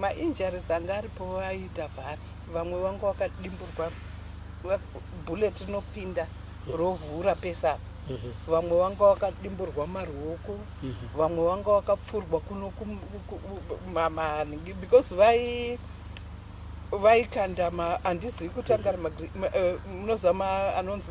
mainjuries anga aripo aiita vhari vamwe vanga vakadimburwa bullet rinopinda rovhura pese apa mhm. vamwe vanga vakadimburwa maruoko mhm. vamwe vanga vakapfurwa kuno maningi because vai vaikanda handizivi kutanga eh, munoziva anonzi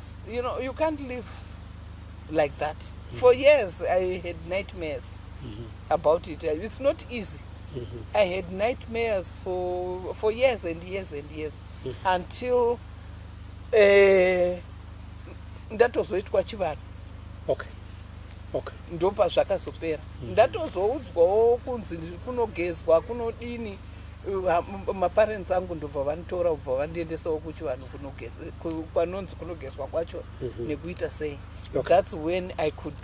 You know, you can't live like that. Mm. For years, I had nightmares mm -hmm. about it. It's not easy. Mm -hmm. I had nightmares for, for years and years and years mm -hmm. until eh, ndatozoitwa chivanhu okay. okay. ndopa zvakazopera mm -hmm. ndatozoudzwawo kunzi kunogezwa kunodini maparents angu ndobva vanditora ubva vandiendesawo kuchivanhu kwanonzi kunogezwa kwacho mhm. nekuita sei thats when i could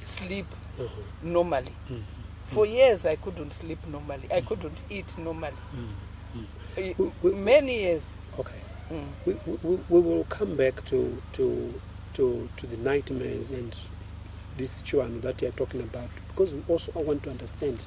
sleep mhm. normally mhm. for years i couldn't sleep normally i couldn't eat normally many years okay mm. we, we, we will come back to, to, to, to the nightmares and this chivanhu that youare talking about because we also want to understand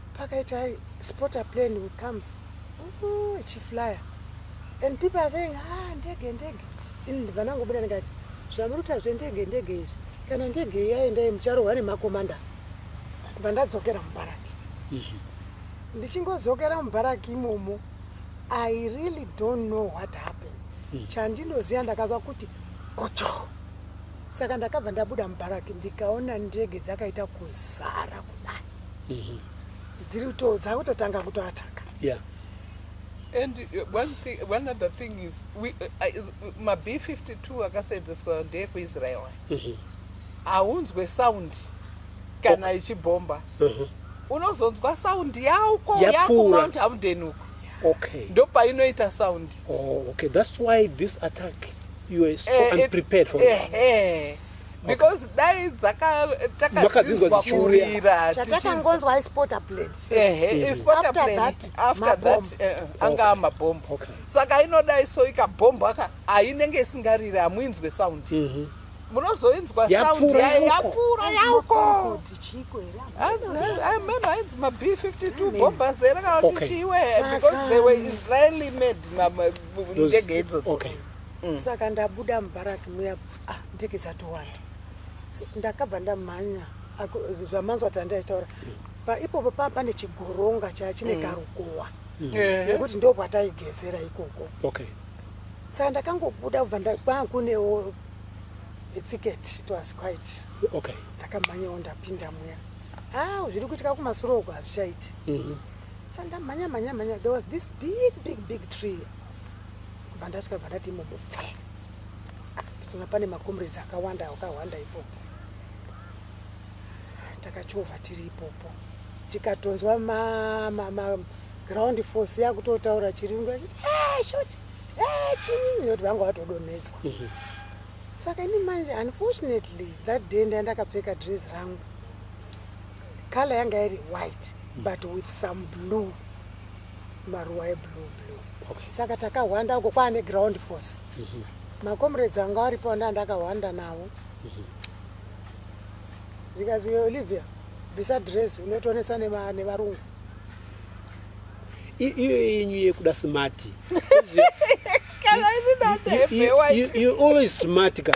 pakaita spotter plane who comes oh, ichiflyer and people are saying ah ndege ndege ini vanangobuda ndikati zvamuri kuita zvendege ndege izvi kana ndege yaendai mucharohwa nemakomanda kubva ndadzokera mubaraki mhm. ndichingodzokera mubaraki imomo i really don't know what happened mhm. chandinoziva ndakazwa kuti kocho saka ndakabva ndabuda mubaraki ndikaona ndege dzakaita kuzara kudai mhm. dziri kuto dzakutotanga kutoataka yeah. and uh, one, thing, one other thing is we, uh, uh, mab 52 akaseenzeswa ndeekuisrael mhm. haunzwe mm -hmm. sound kana ichibhomba mm -hmm. unozonzwa sound yauko yakumount haundeni uko okay. ndopainoita sound oh, okay. that's why this attack you are so eh, unprepared for eh, eh. because dai dzakatakadzinzwa dzichiurira chatakangonzwa ispota plan ehe ispota plan after that eh, anga amabhombo saka inodai so ikabhombo aka ainenge isingariri hamuinzwe sound mhm. munozoinzwa sound yapfuura yauko ameno ainzi mab 52 bhomba zera kana kuti chiiwe because they were israeli made ndege idzodzo mm. saka ndabuda mubaraki muya ah, ndege dzatowanda so, ndakabva ndamhanya zvamanzwa ati andaitaura paipopo paa pane chigoronga chaa chine mm. karukowa mm. nekuti mm. ndo kwataigezera ikoko okay. saka ndakangobuda kubva ndakwankunewo ticket it was quite okay. ndakamhanyawo ndapinda muya ah, zviri kuitika kumasuro uko hazvichaiti mm -hmm. saka ndamhanya mhanya mhanya there was this big big big tree kubva ndasvika bva ndati imomo pfe titoona pane macomrades akawanda akawanda ipopo takachovha tiri ipopo tikatonzwa maground force yakutotaura chirungu achiti eh, shoti eh, chini nekuti vanga vatodonhedzwa mhm. saka ini manje unfortunately that day nda ndakapfeka dress rangu color yanga iri white but with some blue maruwa eblue blue okay. saka takahwanda uko kwaane ground force mm -hmm. macomrades anga aripo nda ndakahwanda navo mm -hmm. because olivia bvisa dress unotonesa nevarungu iyo yenyu yekuda smart you always smart ka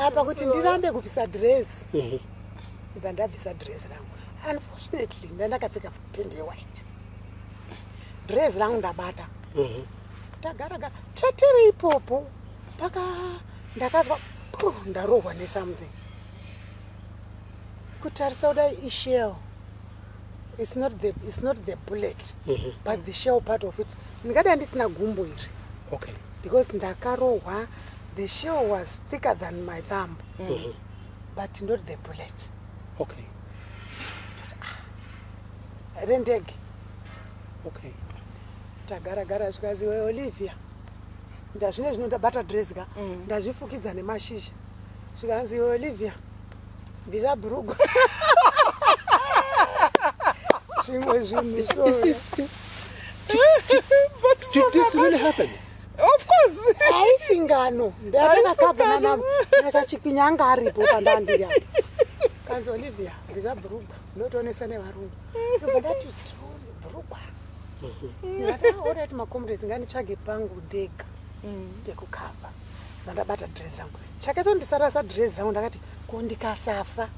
apa kuti ndirambe kubvisa dress mhm. ndibva ndabvisa dress rangu unfortunately ndandakapfeka pende yewhite dress rangu ndabata mhm. tagaragara tatiri ipopo paka ndakazwa ndarohwa nesomething kutarisa kudai ishell it's not the, it's not the bullet mm -hmm. but the shell part of it ndingadai ndisina gumbo iri okay. because ndakarohwa the shell was thicker than my thumb mm -hmm. but not the bullet okay ah, rendege okay tagara gara zvikazi we olivia ndazvine zvino ndabata dress ka mm. ndazvifukidza nemashizha zvikanzi we olivia bvisa bhurugu zvimwe zvinhu so Did, did, did, did this really happen? Of course. Haisi ngano. Ndatakakabva nana Nasha Chikwinya anga aripo pandandira. Kanzi Olivia, ndiza brugwa. Unotoonesa nevarungu. Ndobva ndati true brugwa. Ndakaona kuti makomrades nganitsvage pangu ndega mm. pekukava. Ndandabata dress rangu. Chakaita ndisarasa dress rangu ndakati ko ndikasafa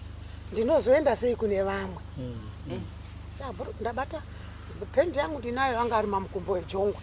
ndinozoenda sei kune vamwe. Mm. Mm. Ndabata pendi yangu ndinayo anga ari mamukumbo ejongwe.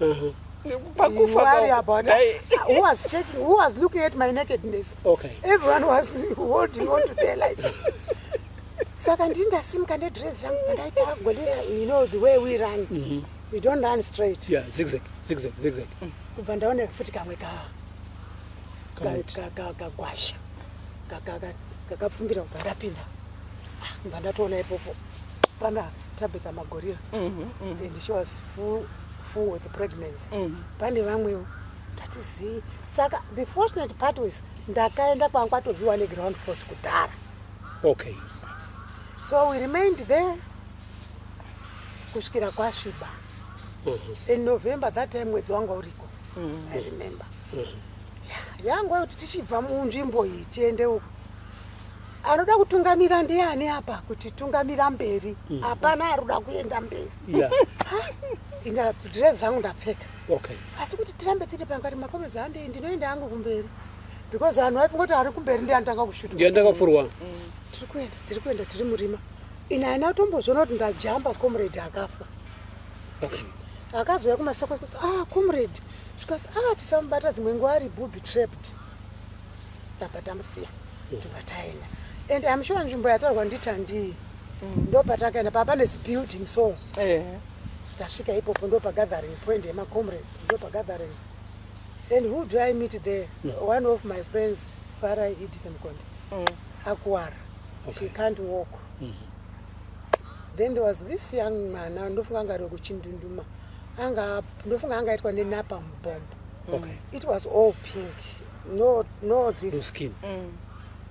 Uh-huh. pakufa wari apa wati who was checking who was looking at my nakedness okay everyone was holding on to their life saka ndini ndasimuka nedress rangu pandaita agolera you know the way we run mm -hmm. we don't run straight yeah zigzag zigzag zigzag mm. kubva ndaona futi kamwe ka kagwasha kakapfumbira kubva ndapinda ah, kubva ndatoona ipopo pana Tabitha Magorira mm -hmm. and she was full, full with pregnancy mm -hmm. pane vamwewo ndatizii saka the fortunate part was ndakaenda kwanga kwatoviwa neground force kudhara okay so we remained there kusvikira kwasviba mm -hmm. in november that time mwedzi wanga uriko mm -hmm. i remember mm -hmm. yangwa kuti tichibva munzvimbo iyi tiende uku Anoda kutungamira ndiani apa kuti tungamira mberi. Mm. Hapana aruda kuenda mberi. Yeah. Inga dress zangu ndapfeka. Okay. Asi kuti tirambe tiri panga kuti makomezi hande ndinoenda hangu kumberi. Because vanhu vaifunga kuti ari kumberi ndiye anotanga kushuta. Ndiye anotanga kufurwa. Mm. Tiri kuenda, tiri kuenda, tiri murima. Ina haina kutombozviona kuti ndajamba comrade akafa. Okay. Akazouya kumasoko kuti ah comrade zvikas ah tisamubata dzimwe nguva ari booby trapped. Tabva tamusiya. ndobva taenda and am sure nzvimbo yatorwa nditandii mm. ndopatakaenda paa pane zibuilding so eh. tasvika ipopo ndopa gathering point yemacomrades ndopa gathering and who do i meet there mm. one of my friends fara edith mkonde mm. akuwara okay. she can't walk mm -hmm then there was this young man ndofunga anga ari kuchindunduma anga ndofunga anga aitwa nenapa mubhombo okay. it was all pink no no this no skin mm.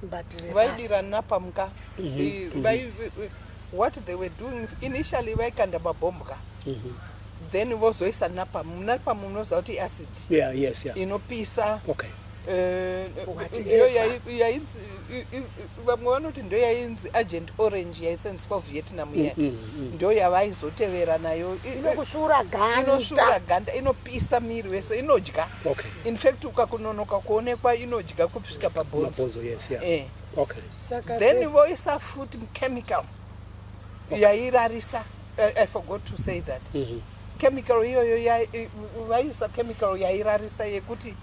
but vaidira napa muka mm-hmm. mm-hmm. what they were doing initially vaikanda mabhomb ka mm-hmm. then vozoisa napa napa munoziva kuti iacid yeah, yes, yeah. inopisa okay. uh, eh, iyo vamwe vanoti ndo yainzi agent orange yaisenziswa vietnam mm, iya mm, mm. ndo yavaizotevera nayo inokusvura gandainosvura ganda inopisa miri wese inodya infact ukakunonoka kuonekwa inodya kusvika pabhonzo eh. then voisa futi chemical yairarisa i forgot to say that mm-hmm. chemical iyoyo vaiisa chemical yairarisa yekuti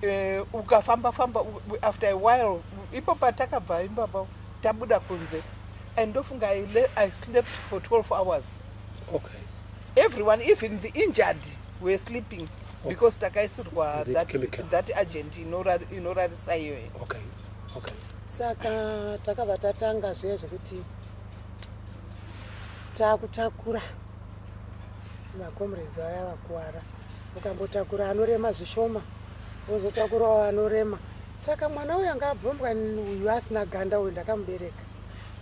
Eh, ukafamba famba after a while ipo patakabva imbaba tabuda kunze and ndofunga i slept for 12 hours okay. everyone even the injured were sleeping okay. because takaisirwa that, that agent inorarisa iyoyo okay. okay. saka takabva tatanga zviya zvekuti takutakura macomrades vaya vakuwara ukambotakura anorema zvishoma wozotakurawo anorema saka mwana uyu anga abhombwa uyu asina ganda uyu ndakamubereka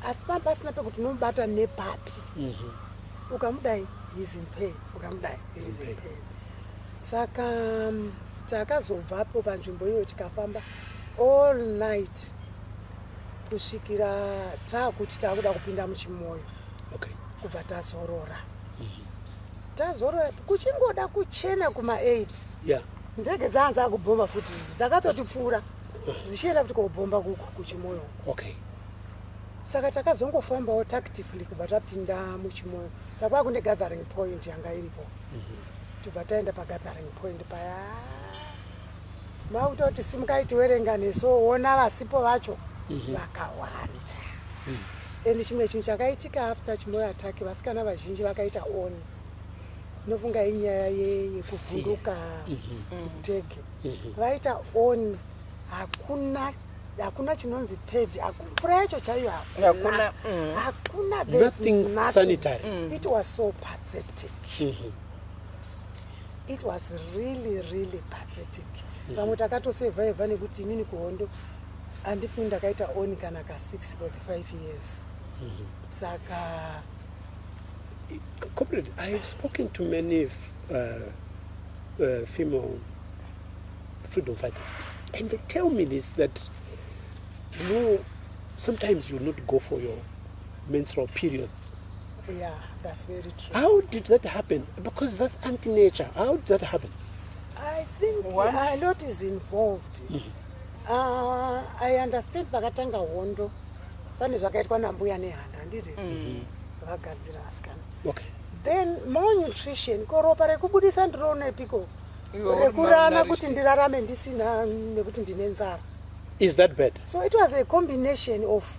asi pamba pasina pekuti unomubata nepapi mhm. ukamudai his in pain ukamudai his in pain saka mm, takazobvapo panzvimbo iyoyo tikafamba all night kusvikira taakuti taakuda kupinda muchimoyo okay. kubva tazorora tazorora kuchingoda kuchena kuma 8 yeah. ndege dzaanzi akubhomba futi dzakatotipfuura dzichienda futi kobhomba kuko kuchimoyo okay. saka takazongofambawo tactively kubva tapinda muchimoyo sakwa kune gathering point yanga iripo mm -hmm. tibva taenda pagathering point paya Vakutoti simukai tiwerenga nesu woona vasipo vacho mhm. vakawanda. Mhm. And chimwe chinhu chakaitika after chimoyo attack vasikana vazhinji vakaita on. Nofunga inyaya yekuvhunduka mhm. kutege. Vaita on hakuna hakuna chinonzi pedi mvura yacho chaiyo hakuna hakuna mm. it was so pathetic mm -hmm. It was really really pathetic. Mm-hmm. Vamwe takatosurviva nekuti inini kuhondo handifungi ndakaita oni kana ka six for the five years. Mm-hmm. Saka comrade, I have spoken to many uh, uh, female freedom fighters and they tell me this that you know sometimes you not go for your menstrual periods Yeah, that's very true. How did that happen? Because that's anti-nature. How did that happen? I think what? a lot is involved. Mm -hmm. uh, I understand pakatanga hondo pane zvakaitwa nambuya nehanda handiri mm. vagadzira asikana okay. then malnutrition ko ropa rekubudisa ndiriona epiko rekurana kuti ndirarame ndisina nekuti ndine nzara is that bad so it was a combination of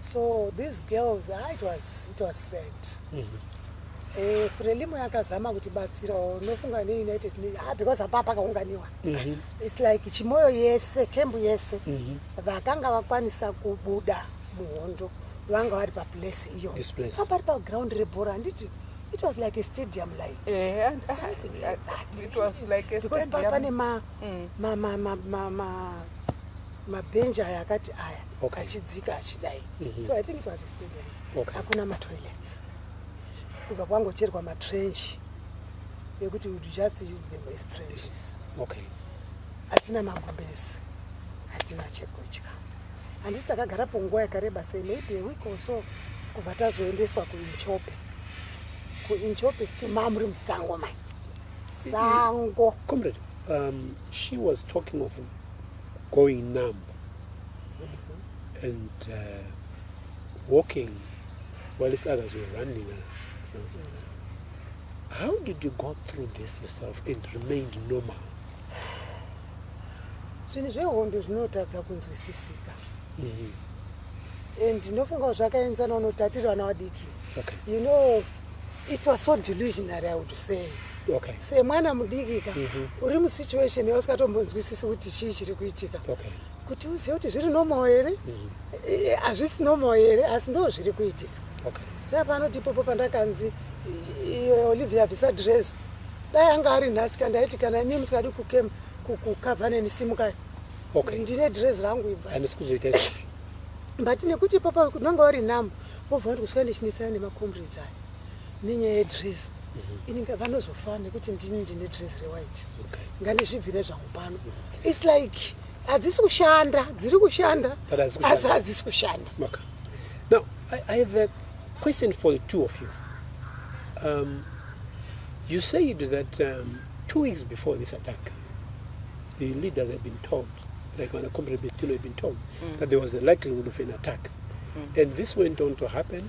so these girls ah, it was, it was sad mm -hmm. Eh, frelimo yakazama kuti batsirawo nofunga neunited ah, because hapa pakaunganiwa mm -hmm. its like chimoyo yese kembu yese mm -hmm. vakanga vakwanisa kubuda muhondo vanga vari paplace iyo pari paground rebhora handiti it was like a stadium like eh, and, uh, something like that it was like a because stadium. pane ma, mm. ma, ma, ma, ma, ma, mabhenji aya akati aya okay. achidzika achidai mm -hmm. so i think it was a stadium okay. hakuna matoilets kubva kwangocherwa matrench ekuti would just use them as trenches okay. hatina magumbezi hatina chekudya handiti takagara po nguva yakareba sei maybe a week or so kubva tazoendeswa kuinchope kuinchope siti mamuri musango mai sango comrade um, she was talking of going numb and uh, walking while its others were running around. How did you go through this yourself and remained normal? zvinhu zvehondo zvinotadza kunzwisisika mm-hmm. and ndinofunga kuti zvakaenzana unoti atiri vana vadiki you know it was so delusionary i would say okay. semwana mudikika mm -hmm. uri musituation yausingatombonzwisisi kuti chii chiri kuitika okay. kuti uzive kuti zviri normal here mhm. eh, hazvisi mm -hmm. normal here asi ndo zviri kuitika okay. zvapanoti ipopo pandakanzi olivia visa dress dai anga ari nhasi kandaiti kana imi musikadi kukem kukava neni simukai okay. ndine dress rangu ibva handisi kuzoita but nekuti ipopo unanga wari namo wobva wati kusvika ndichinetsana nemacomrades aya nenyaya yedress ini ngavanozofa nekuti ndini ndine dress rewhite ngandizvibvire zvangu pano its like hadzisi kushanda dziri kushanda asi hadzisi kushanda now I, i have a question for the two of you um, you said that um, two weeks before this attack the leaders have been told like when a company had been told mm. that there was a likelihood of an attack mm. and this went on to happen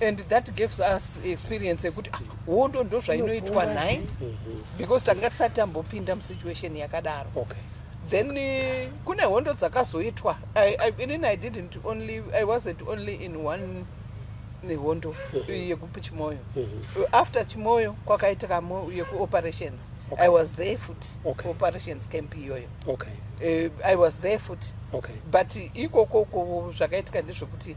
and that gives us experience yekuti ah, hondo ndo zvainoitwa nhai because tanga tisati tambopinda musituation yakadaro okay. then eh, kune hondo dzakazoitwa inini i didn't only i wasn't only in one nehondo eh, yekupi chimoyo eh, after chimoyo kwakaitika yekuoperations okay. i was there foot okay. operations camp iyoyo okay. uh, i was there foot okay. but ikoko zvakaitika ndezvekuti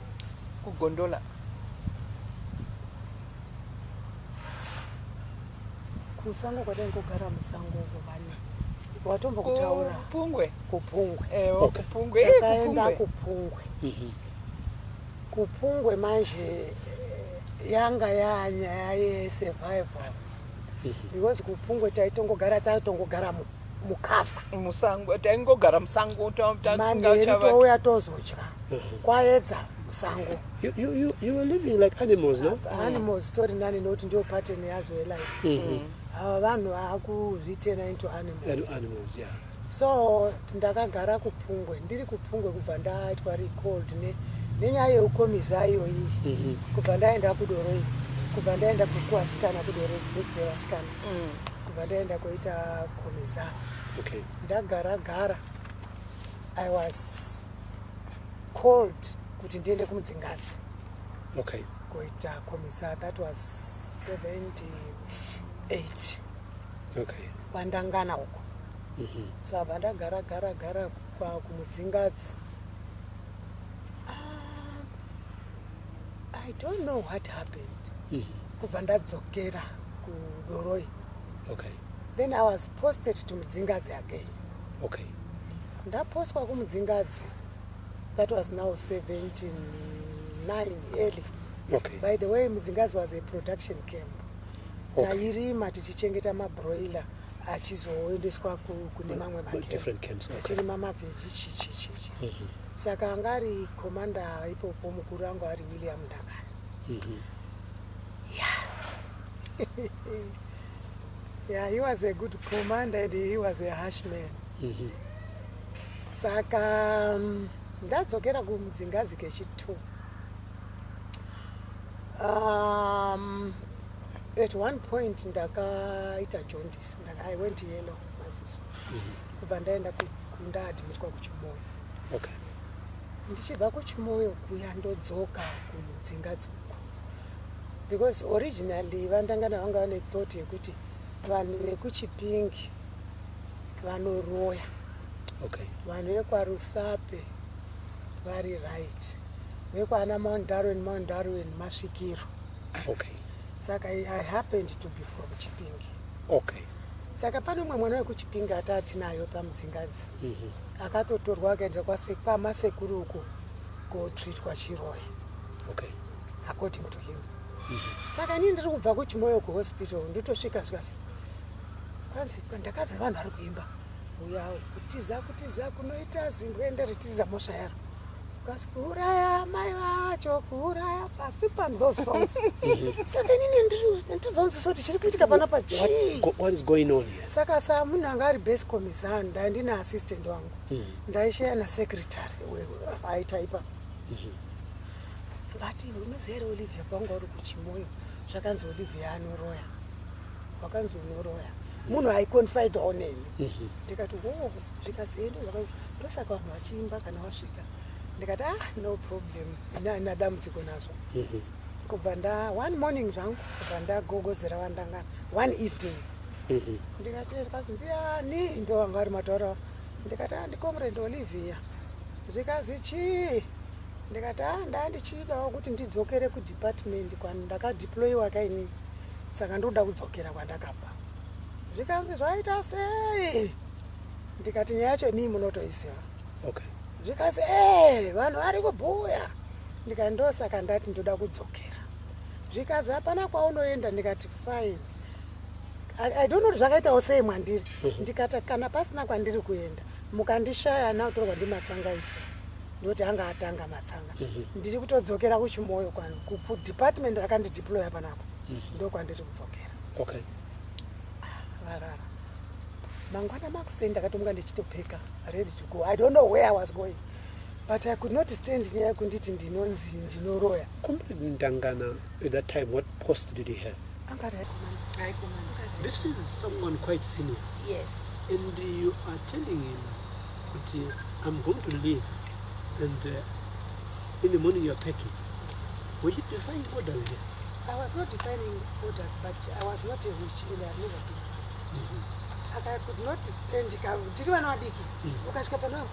kugondola kusango kwataingogara musango uko vane watombo kutaura kupungwe kupungwe eh, oh, kupungwe eh, takaenda kupungwe mhm. kupungwe manje eh, yanga yanyaya yesurvival mhm. because kupungwe taitongogara taitongogara muku mukafa musango taingogara musango tauya tozodya kwaedza musango animals tori nani nokuti ndiyo pattern yazo yelife mm-hmm. ava vanhu vakuzvitena into animals so ndakagara kupungwe ndiri kupungwe kubva ndaitwa recold nenyaya yeukomiza iyoyi mm-hmm. kubva ndaenda kudoroi kubva ndaenda kukuasikana kudoroi bhesi revasikana mm. kubva ndaenda koita komiza okay. ndagara gara i was called kuti ndiende kumudzingadzi okay. koita komiza that was 78 okay. kwandangana uko mm -hmm. sabva so, ndagara gara gara kumudzingadzi I don't know what happened. Mm -hmm. Kubva ndadzokera kudoroi. Okay. Then I was posted to Mudzingadzi again. Okay. Ndapostwa kuMudzingadzi. That was now 17 9 early. Okay. By the way, Mudzingadzi was a production camp. Okay. Tairima tichichengeta mabroiler achizoendeswa kune mamwe makemp. Different camps. Okay. Tichirima mavheji chichi chichi. Mm -hmm. Saka anga ari commander ipopo mukuru angu ari William Ndangara. Mm -hmm. Yeah. yeah, he was a good commander and he was a harsh man. Mm -hmm. Saka um, ndadzokera kumudzingazi kechitu. Um, at one point ndakaita jaundice, ndaka, I went yellow maziso. Mm -hmm. kubva ndaenda kundaadmitwa kuchimoyo okay. ndichibva kuchimoyo kuya ndodzoka kumudzinga dzoku because originally vandangana vanga vane thought yekuti vanhu vekuchipingi vanoroya okay. vanhu vekwarusape vari right vekwana mount darwin mount darwin masvikiro okay. saka i happened to be from chipinge okay saka pane umwe mwana wekuchipinge ataa tinayo pamudzingadzi mm -hmm. akatotorwa akaenda kwamasekuru uko kotreatwa chiroya okay according to him mm -hmm. saka nii ndiri kubva kuchimoyo kuhospital nditosvika zvikasi kwanzi ndakazi vanhu vari kuimba uyawo kutiza kutiza kunoita zimboenda ritiza mosva yaro Kasi kuuraya mai vacho kuuraya pasi pano those songs saka inini ndizonziso kuti chiri kuitika pana pa chii what is going on here saka sa munhu anga ari base commissar ndai ndine assistant wangu hmm. ndaisheya na secretary aitaipa hmm. vati unoziva here olivia kwanga uri kuchimoyo zvakanzi olivia anoroya wakanzi unoroya munhu aiconfide oneni mm -hmm. ndikati hoo zvikasi ende ndosaka vanhu vachiimba kana wasvika ndikati ah no problem ini haina dambudziko nazvo mhm. kubva nda one morning zvangu kubva ndagogodzera vandangana one evening mhm. ndikati zvikanzi ndiani ndo vanga vari mataura ndikati ah ndicomrade olivia zvikanzi chii ndikati ah ndaa ndichidawo kuti ndidzokere kudepartment kwandakadeployiwa kainini saka ndokuda kudzokera kwandakabva zvikanzi zvaita sei ndikati nyaya yacho mii munotoiziva okay. zvikanzi ee eh, vanhu vari kubhuya ndikati ndosaka ndati ndoda kudzokera zvikanzi hapana kwaunoenda ndikati fine i don't know kuti zvakaitawo sei mwandiri mhm. ndikati kana pasina kwandiri kuenda mukandishaya nautorwa ndimatsangaisa ndoti anga atanga matsanga mhm. ndiri kutodzokera kuchimoyo kwanu kudepartment rakandideploya panako mhm. ndokwandiri kudzokera varara mangwana makuseni ndakatomuka ndichitopfeka ready to go i don't know where i was going but i could not stand nyaya yekunditi ndinonzi ndinoroya Comrade Ndangana, at that time, what post did he have? anga ari aikomana This is someone quite senior, yes and you are telling him, kuti, I'm going to leave, and uh, in the morning you are packing. Were you defying orders here? I was not defining orders, but I was not a witch and I've never been. Mm -hmm. Saka I could not stand ka tiri vana vadiki. Mm -hmm. Ukasvika pano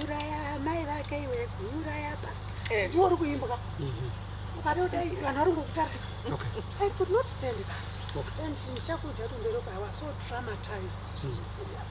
uraya mai vake iwe uraya basi. Eh. Ndiwo uri kuimba ka. Mm -hmm. Ukatoda vanhu vari ngokutarisa. Okay. I could not stand that. Okay. And ndichakuudza kuti mberi I was so traumatized. Mm -hmm. Serious.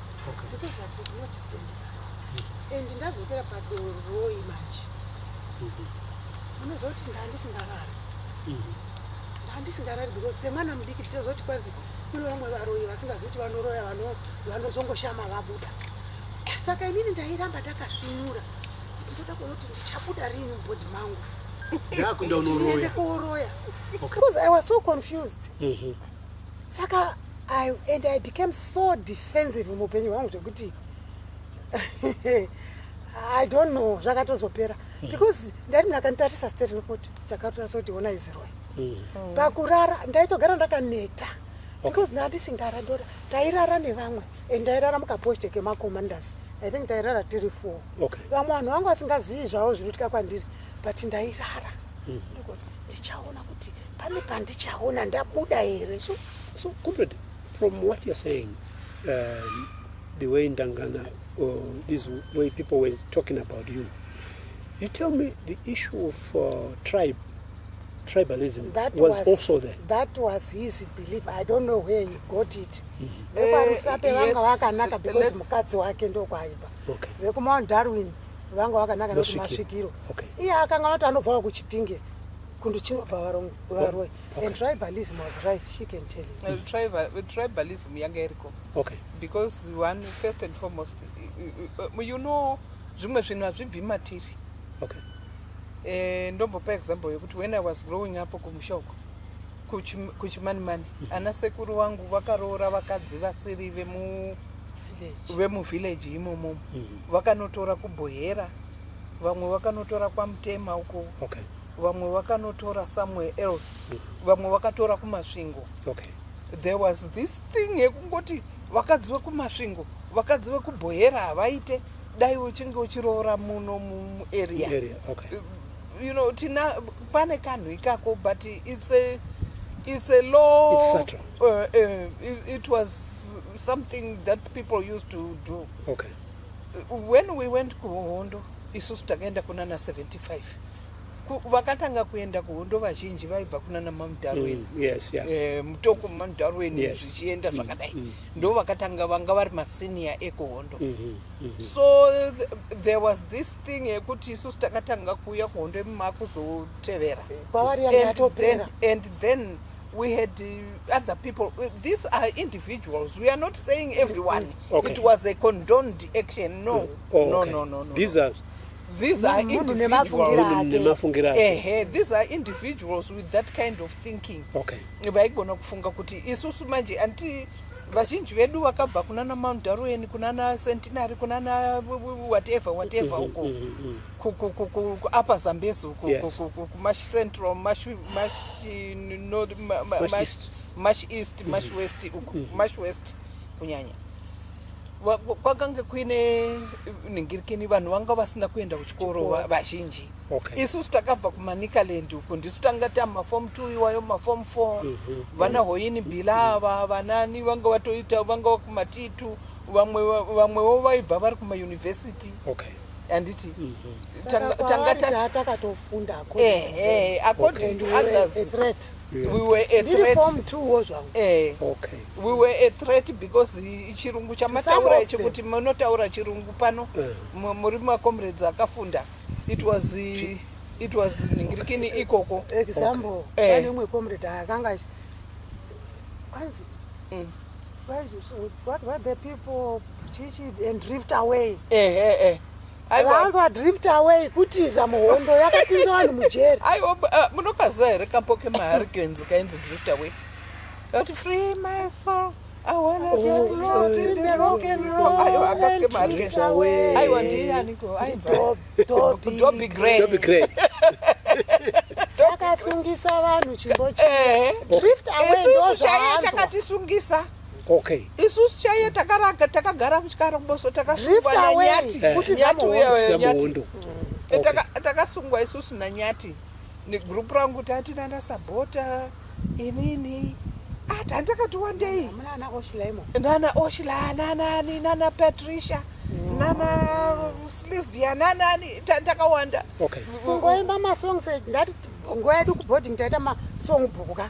because I could not stand that and ndazokera padoroi manje unozoti ndandisingarari ndandisingarari because semwana mudiki tozoti kwanzi kune vamwe varoyi vasingazi kuti vanoroya vanozongoshama vabuda saka inini ndairamba ndakasvinura ndoda kuona kuti ndichabuda rini mubhodhi mangu ndakuenda unoroya because i was so confused mm -hmm. saka I, and I became so defensive muupenyu hwangu zvekuti I don't know zvakatozopera mm. because ndati mnhu akanditarisa steri nokoti chakatonasa kuti ona iziroi mm. mm. pakurara ndaitogara ndakaneta because nda ndisingara ndora tairara nevamwe and ndairara mukaposte kemacommanders i think tairara tiri four vamwe vanhu vangu vasingazivi zvavo zvinoitika kwandiri but ndairara mm. ndichaona kuti pane pandichaona ndabuda here so, so comrade from what you're saying um, the way ndangana or this way people were talking about you you tell me the issue of uh, tribe tribalism that was, was also there that was his belief i don't know where he got it vekwarusape mm-hmm. eh, vanga vakanaka because mukadzi wake ndokwaibva vekumount darwin vanga vakanaka nekuti masvikiro iye akanga anoti anobvawo kuchipinge kundu chinobva varoi and tribalism was rife she can tell you uh, tribalism yanga iriko okay because one first and foremost uh, you know zvimwe zvinhu hazvibvi matiri okay eh, ndombopa example yekuti when i was growing up kumusha uko kuchimanimani mhm. ana sekuru vangu vakaroora vakadzi vasiri vemu vemuvillage imomo mhm. vakanotora kubhohera vamwe vakanotora kwamutema uko okay. vamwe vakanotora somewhere else mm. vamwe vakatora kumasvingo okay. there was this thing yekungoti vakadzi vekumasvingo vakadzi vekubhohera havaite dai uchinge uchiroora muno muarea okay. you know tina pane kanhu ikako but it's a, it's a law it's uh, uh, it, it was something that people used to do okay. when we went kuhondo isusu takaenda kunana 75 vakatanga kuenda kuhondo vazhinji vaibva kuna namam darwin mm, yes, yeah. e, mutoko mam darwin yes. zvichienda mm, zvakadai mm, mm. ndo vakatanga vanga vari masenior ekuhondo mm -hmm, mm -hmm. so th there was this thing yekuti isusu takatanga kuuya kuhondo yemumakuzotevera eh, kwavari yanga yatopera and then we had uh, other people. Uh, these are individuals. We are not saying everyone. Okay. It was a condoned action. No. Oh, oh, no, okay. no, no, no. These no. are These are individuals. Ehe, these are individuals with that kind of thinking. Okay. Vaigona kufunga kuti isusu manje anti vazhinji vedu vakabva kunana Mount Darwin, kunana Centenary, kunana whatever whatever mm-hmm, uko. Mm-hmm, mm-hmm. Ku upper Zambezi uko, ku Mash Central, Mash Mash North, Mash East, Mash East, Mash West uko, Mash West kunyanya. kwakange kuine ningirikini vanhu vanga vasina kuenda kuchikoro vazhinji okay. isusu takabva kumanikaland uko ndisu tanga tamafom t iwayo mafom f mhm. vana hoyini bilava mhm. vanani vanga vatoita vanga vakumatitu vamwewo vaibva vari kumayunivhesiti okay handiti mhm. tanga takatofundaakoti we were a threat eh okay we were a threat because chirungu chamataura ichi kuti munotaura chirungu pano eh. muri ma comrades akafunda it was eh, it was ningirikini eh, ikoko example pane umwe comrade akanga kwanzi mm. what were the people chichi and drift away eh eh eh vanzwa drift away kutiza muhondo yakapinza vanhu mujeri aiwa uh, munokaziva here kambo kemahurricanes kainzi drift away kati free my soul aiwa ndiyanikoaiwadobi gray chakasungisa vanhu chimbo chii eh. drift away ndozvaanzwa chakatisungisa Okay. Isusu chaiye takaraga takagara kuchikara kuboso takasungwa nanyati eh. kuti zati uya nyati. Eh, takasungwa isusu nanyati. Ni group rangu tati nana sabota inini ati ah, handakati wandei nana oshilaimo nana oshila nanani nana patricia mm. nana slivia nanani takawanda okay. kungoimba masongs eh, ndati nguva yedu kuboarding taita masong book ka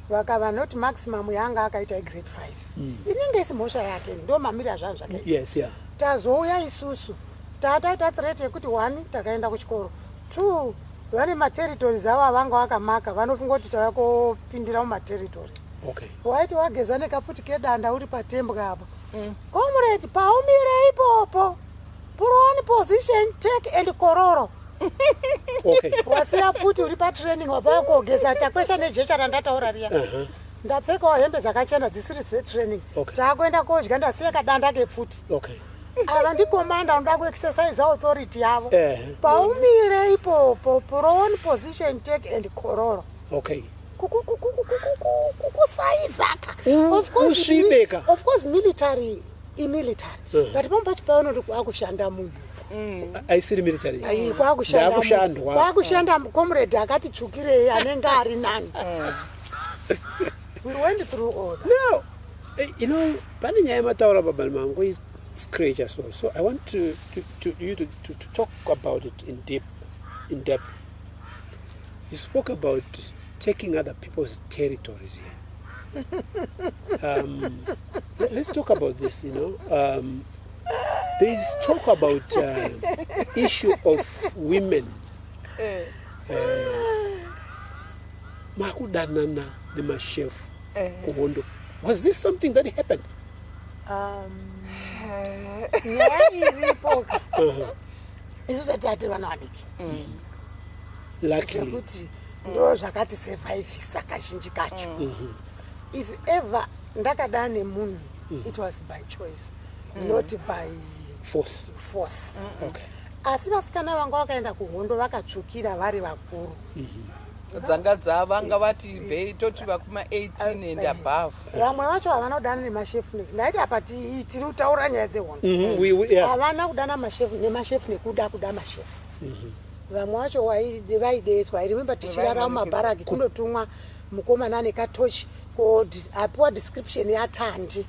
vakava not maximum yaanga akaita igrade 5 mm. inenge isi mhosva yake ndo mamiri azvanhu zvakaita yes, yeah. tazouya isusu tataita threat yekuti one takaenda kuchikoro two vane materitories avo avanga vakamaka vanofunga kuti tava kopindira mumaterritories okay. waiti wageza nekapfuti kedanda uri patembwa apo mm. comrade paumire ipopo Prone position take and kororo. Okay. Wasiya futi uri pa training wabva kogeza takwesha nejecha randataura riya. Uh -huh. Ndapfekawo hembe dzakachena dzisiri dze training. Okay. Takuenda kodya ndasiya kadanda ke futi. Okay. Ava ndikomanda unoda ku exercise authority yavo. Uh eh. -huh. Paumire ipopo prone position take and kororo. Okay. Kukusaiza ka. Of course military imilitary eh. but pamwe pacho paona kuti kwakushanda munhu mm. aisiri military kwakushandakwakushanda comrade akati tsvukirei anenge ari nani eh. we went through all that. no eh, you know pane nyaya yemataura babani mangu is scratch as well so i want to, to, to you to, to, to talk about it in deep in depth you spoke about taking other people's territories here um, Let's talk about this, you know. Um, there is talk about uh, issue of women. Eh. Uh, makudanana nemashef eh. kuhondo. Was this something that happened? Um, isu sati ati vana vadiki zvekuti ndo zvakati survivisa kazhinji kacho mm-hmm. If ever ndakada nemunhu mm. it was by choice mm. not by force, force. Mm -mm. Okay. asi vasikana vanga vakaenda kuhondo vakatsvukira vari vakuru mm -hmm. dzanga dzavanga vati ibvei toti vakuma 18 and above vamwe vacho havanodana nemashefu ndaiti apa tiri kutaura nyaya dzehondo mhm, havana kudana mashefu nemashefu nekuda kuda mashefu mhm. vamwe vacho vaideedzwa i remember tichirara mumabharaki kunotumwa mukomana ane katochi ko apiwa description yatandi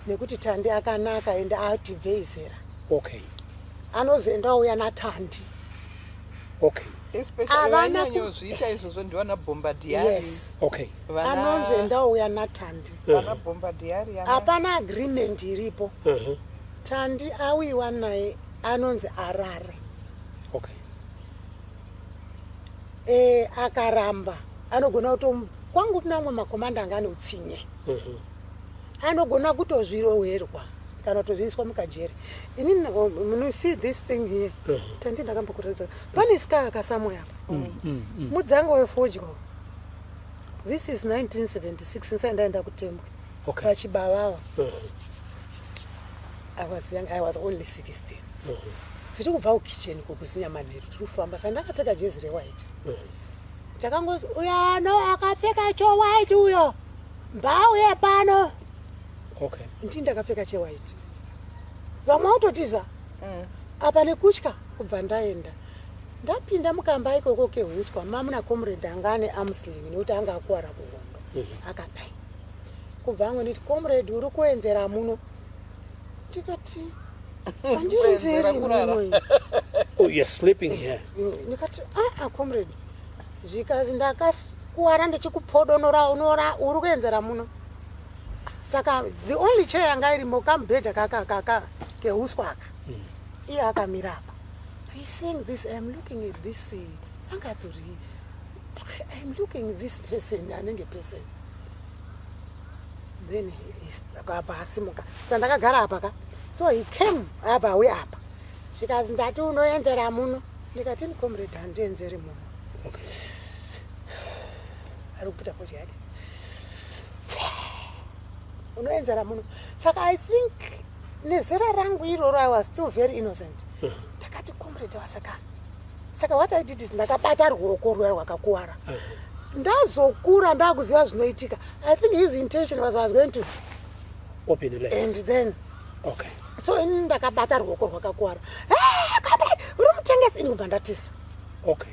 nekuti tandi akanaka ende ati bvei zera okay anozoenda uya natandi okay avanakuita izvozvo ndivana bhomba diaries okay anonzi enda uya natandi vana bhomba diary hapana agreement iripo uh-huh. tandi awiwa naye anonzi arare okay e, akaramba anogona kuto kwangu kuna amwe makomanda anga ane utsinye mhm. anogona kutozvirowerwa kana kutozviiswa mukajeri ini oh, see this thing here mhm. tandi ndakambokuratidza pane ska akasamoya apa mm, mm, mm. mudzanga wefodya this is 1976 nsai ndaenda kutembwe pachibavawa mhm. i was young i was only 16 tiri kubva kukitchen kukuzinya manheru tiri kufamba sa ndakapfeka jezi rewhite mm. takangozi uyo ano akapfeka chowhite uyo mbauye pano okay. ndii ndakapfeka chewhite vamwe autotiza mm. apa nekutya kubva ndaenda ndapinda mukamba ikoko kehuswa mamuna comrade anga ane amuslim nekuti anga akuwara kuhondo mm -hmm. akadai kubva angu nditi comrade uri kuenzera muno ndikati andinzeri munoyi oh you're sleeping here ndikati aa ah, comrade zvikazi ndakakuwara ndichikupodonora unora uri kuenzera muno saka the only chair yanga irimo kamubhedha kaka kaka keuswa aka hmm. iye akamira apa i seeing this iam looking at this eh, angatori iam looking this person anenge person then akabva asimuka sandakagara apa ka so he came abva auya apa zvikanzi ndati unoenzera muno ndikati ndikomredi handienzeri muno ari kuputa kochi yake unoenzera muno saka i think nezera rangu iroro i was still very innocent uh-huh. ndakati comrade wasaka saka what i did is ndakabata ruoko rwuya rwakakuwara uh-huh. ndazokura ndakuziva zvinoitika i think his intention was was going to open the legs. and then okay so ini ndakabata ruoko rwakakuwara hey, eh, comrade uri mutengesi ini kubva ndatisa okay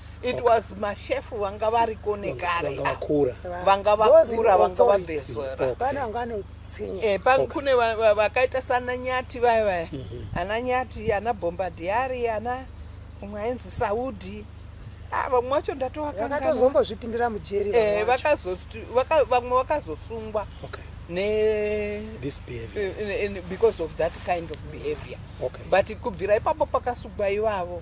it was mashefu vanga variko nekare vanga vakura vanga vabvezora eh, kune vakaita sana nyati vaya vaya mhm. ana nyati ana bombadiari ana umwe ainzi saudi ah, vamwe vacho ndatoakatozombozvipindira mujeri eh, vamwe vakazosungwa ne this behavior eh, because of that kind of behavior okay. but kubvira ipapo pakasugwa ivavo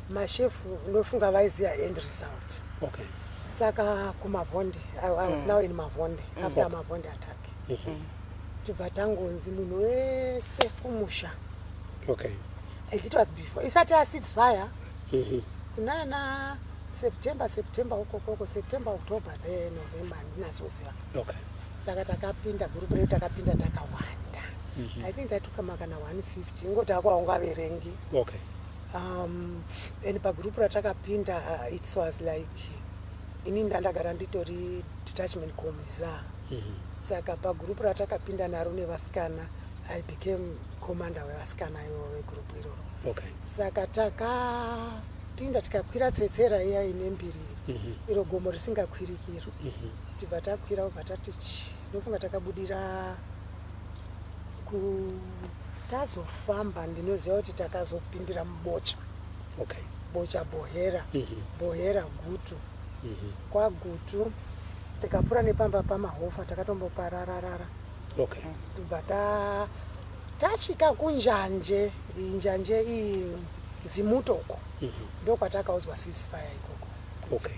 mashefu ndofunga vaiziva end result okay. saka kumavhonde i was mm. now in mavhonde mm. after okay. mavhonde attack mm -hmm. tibva tangonzi munhu wese kumusha okay. and it was before isati asid fire mm -hmm. kunana september september ukokoko september october the november andinazoziva okay. saka takapinda gurupu redu takapinda takawanda mm -hmm. i think tatukama kana 150 ingoti akwaungaverengi okay. um, and pagroup ratakapinda uh, it was like ini ndandagara nditori detachment commisa mm -hmm. saka pagroup ratakapinda naro nevasikana i became commander wevasikana ivo vegroup iroro okay. saka takapinda tikakwira tsetsera iya ine mbiri mm -hmm. iro gomo risingakwirikiro mm -hmm. tibva takwira ubva tati chi ndofunga takabudira tazofamba ndinoziva kuti takazopindira mubocha okay. bocha bohera mm -hmm. bohera gutu mm -hmm. kwagutu tikapfuura nepamba pamahofa takatomboparararara okay. tibva ta tasvika kunjanje njanje iyi zimutoko mm -hmm. ndokwatakaudzwa sisifaya ikoko okay.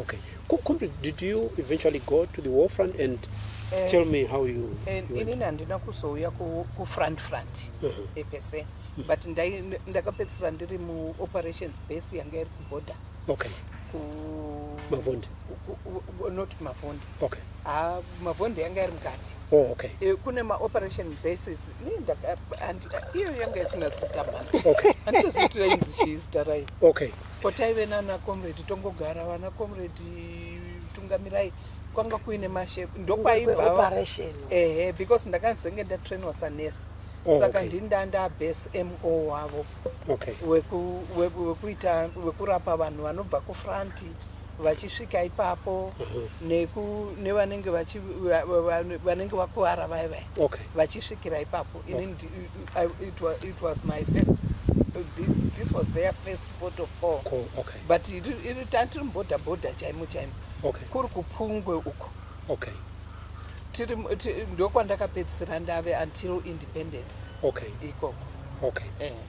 Okay. Kumbe, did you eventually go to the war front and uh, tell me how you, uh, you inini handina kuzouya kufront front uh -huh. Eh, pese mm. but ndakapedzisira ndiri muoperations base yanga iri kuborder okay. ku mavondi not mavondi okay. ah, mavondi yanga iri mukati oh, okay. e, kune maoperation bases iyo yanga isina zita mani okay. andisozitira inzi chii zita rayo okay. Ko taive nana comrade tongogara vana comrade tungamirai kwanga kuine mashape ndokwaibva operation ehe because ndakazenge ndatrainwa sanurse Oh, saka okay. ndini ndanda base mo wavo okay. weku- weku- wekuita wekurapa vanhu vanobva kufranti vachisvika ipapo neku nevanenge vachi va- va- va- vanenge vakuvara vaya vaya Okay. vachisvikira ipapo ini ndi- I- I- it was- it was my first thi- this was their first port of call Cool. Okay. but iri- iri tantiri mubhodha bhodha chaimo chaimo Okay. kuri kupungwe uko Okay. tiri mu- ti- ndokwandakapedzisira ndave until independence Okay. ikoko Okay. eh.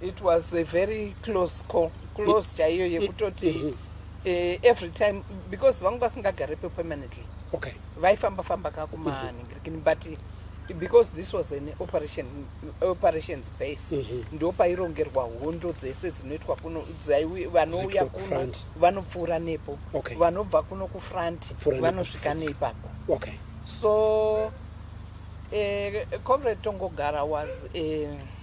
It was a very close call, close chaiyo yekutoti mm -hmm. Eh, every time because vangu vasingagarepo permanently okay vaifamba famba ka kumaningirikini mm -hmm. but because this was an operation operations base mm -hmm. ndo pairongerwa hondo dzese dzinoitwa kuno vanouya kuno vanopfuura nepo okay. vanobva kuno kufront vanosvika neipapo okay. so eh, comrade tongogara was eh,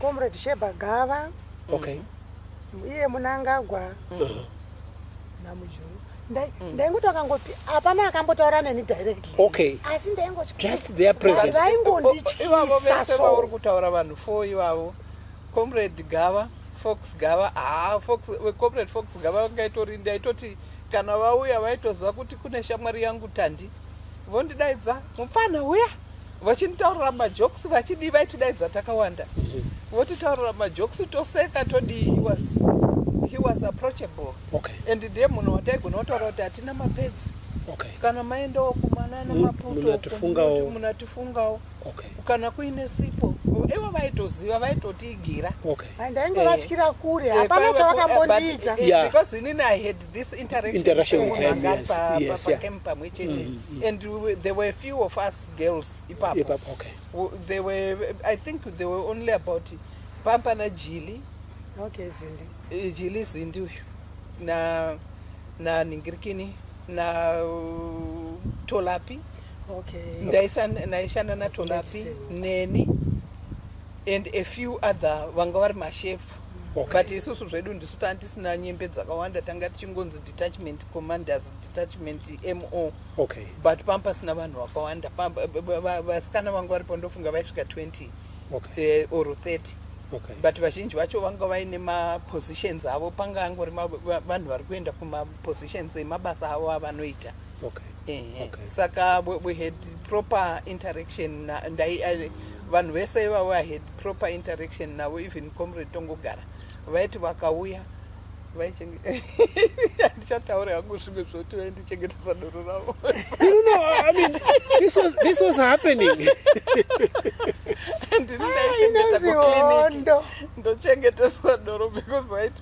comrade sheba gava okay iye munangagwa uh-huh. namujuru mm. ndaingoto akangoti hapana akambotaura neni directly okay asi ndaingotivaingondityisa souri kutaura vanhu four ivavo comrade gava fox gava haa ah, comrade fox gava vangaitori ndaitoti kana vauya vaitoziva kuti kune shamwari yangu tandi vondidaidza mupfanha uya vachitaurira majokes vachidii vaitidaidza takawanda votitaurira majokes toseka todii he was, he was approachable okay. and ndiye munhu wataigona kutaura kuti hatina mapedzi okay. kana maendawo kumana nemaputomunatifungawo munatifungawo okay. kana kuine sipo ivo vaitoziva vaitotiigira okay. ndainge vatyira kure eh, hapana eh, chavakambondiita eh, because inini i had this interaction, interaction with them yes, pa, yes, pa, yeah. camp pamwe chete mm, mm. and we, there were a few of us girls ipapo yep, okay. they were i think they were only about pampa na jili okay zindi eh, jili zindi uyu na na ningirikini na uh, tolapi okay. ndaishanda na tolapi neni and a few other vanga vari mashefu but isusu zvedu ndisu tanga tisina nyembe dzakawanda tanga tichingonzi detachment commanders detachment mo okay. but panga pasina vanhu vakawanda vasikana vanga varipo ndofunga vaisvika 20 okay. Eh, or 30 okay. but vazhinji vacho vanga vaine mapositions avo panga angori vanhu vari kuenda kumapositions emabasa avo avanoita okay. Ehe. Okay. saka we, we had proper interaction na, ndai, I, vanhu vese ivavo i had proper interaction navo even comrade tongogara vaiti vakauya vaichenge- handichataura hangu zvimwe zvoti vaindichengetesa doro ravo No, no, no, I mean, this was, this was happening. ndini ndaichengeta inonzi kuclinic hondo ndochengeteswa doro because vaiti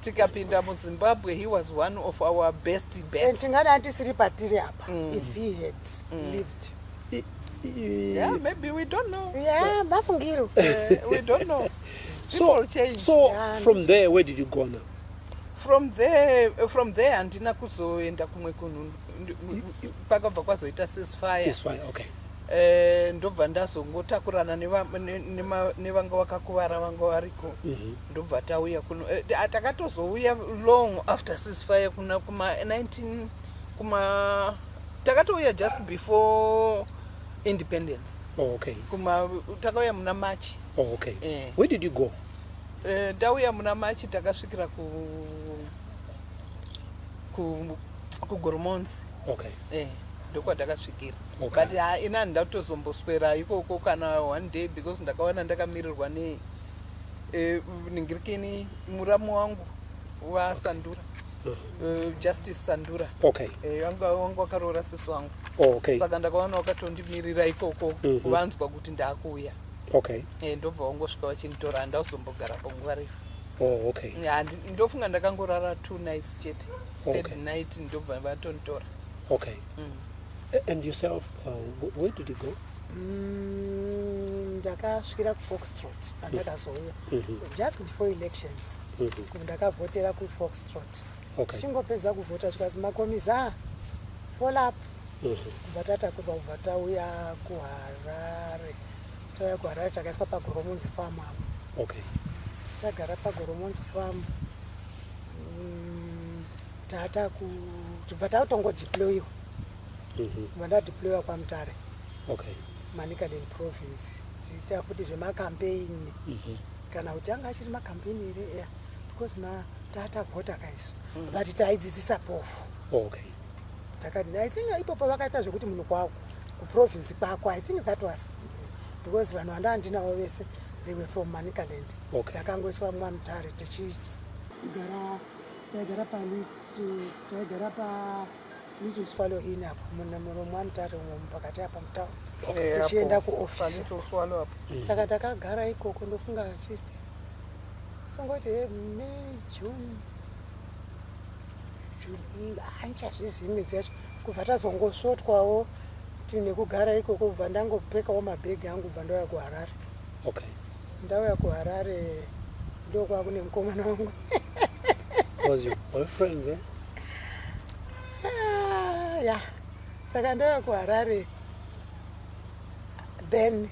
tikapinda muzimbabwe he was one of our best best tingada tisiri patiri apa mm. if he had mm. lived yeah maybe we don't know yeah mafungiro eh, we don't know so change. so yeah, from there where did you go now from there eh, from there handina kuzoenda kumwe kunhu pakabva kwazoita sesfire sesfire okay eh, ndobva ndazongotakurana nevanga vakakuvara vanga variko mm -hmm. ndobva tauya kuno eh, ah, takatozouya long after ceasefire kuna kuma 19 kuma takatouya just before independence oh, okay kuma takauya muna march oh, okay eh. where did you go eh, tauya muna march takasvikira ku ku kugoromonzi okay eh ndokwatakasvikira okay. but ah, ina ndatozomboswera ikoko kana one day because ndakawana ndakamirirwa nei Eh, ningirikeni muramu wangu wasandura uh, eh, justice sandura okay eh, wangu eh, wangu wakaroora sisi wangu oh, okay saka ndakaona wakatondimirira ikoko mm -hmm. kuvanzwa kuti ndakuuya okay eh, ndobva wangosvika vachinitora handakuzombogara panguva refu oh, okay yeah, ndofunga ndakangorara two nights chete okay. third night ndobva vatonitora okay mm. And yourself, uh, where did you go? Mm, ndakasvikira kufoxtrot pandakazouya mm -hmm. just before elections mm -hmm. ndakavhotera kufoxtrot okay. chingopedza kuvhota zvikazi makomiza folap mm -hmm. kubva tatakurwa kubva tauya kuharare tauya kuharare takaiswa pagoromonzi farm apo okay. tagara pagoromonzi farm tata kutibva tatongo deployiwa mhm. kubva ndadeployiwa kwamutare okay manicaland province tiita futi zvemakampeini mhm. kana kuti anga achiri makampeini here ea because matata vhota kaiso mhm. but taidzidzisa pofu okay takadini i think ipopo vakaita zvekuti munhu kwako kuprovince kwako i think that was because vanhu vanda andinawo vese they were from manicaland takangoiswa mwamutare tichigara taigara taigara pa little swallow in apo muromo anotari umwe mupakati apa mutown eh, tichienda kuoffice mm. saka takagara ikoko ndofunga chist tongoti eh, may june handichazvizivi midzi yacho kubva tazongosvotwawo tinekugara ikoko kubva ndangopekawo mabhegi angu kubva ndauya kuharare okay. Ndauya kuHarare ndokwava kune mukomana wangu. Was your boyfriend there? Ah, yeah. Saka ndauya kuHarare then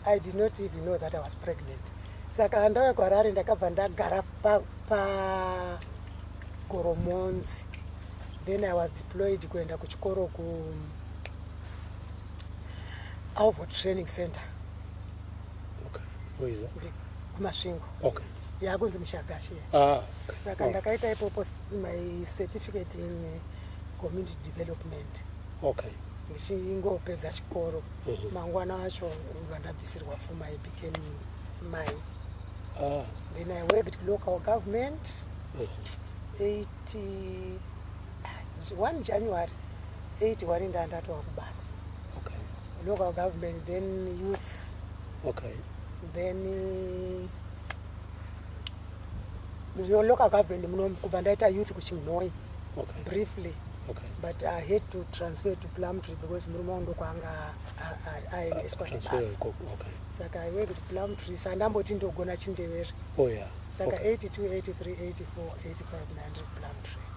I did not even know that I was pregnant. Saka ndauya kuHarare ndakabva ndagara pa, pa Goromonzi. Then I was deployed kuenda kuchikoro ku Alvo Training Center. Okay. Where is that? Kumasvingo. Okay. Yakunzi Mushagashi. Ah. Okay. Saka oh. ndakaita ipopo my certificate in eh, community development. Okay. ndichingopedza chikoro mhm. mangwana acho vandabvisirwa fuma i became mai ah. then i worked local government mhm. eighty 1 January 81 ndandatova kubasa okay. local government then youth okay. then uh, local government muno kubva ndaita youth kuchimnoi okay. briefly okay. but i hate to transfer to plumtree because murume wangu ndokwanga aendeswa nebasa okay. saka i went to plumtree sa ndamboti ndogona chindevere oh, yeah. saka okay. 82 83 84 85 9 plumtree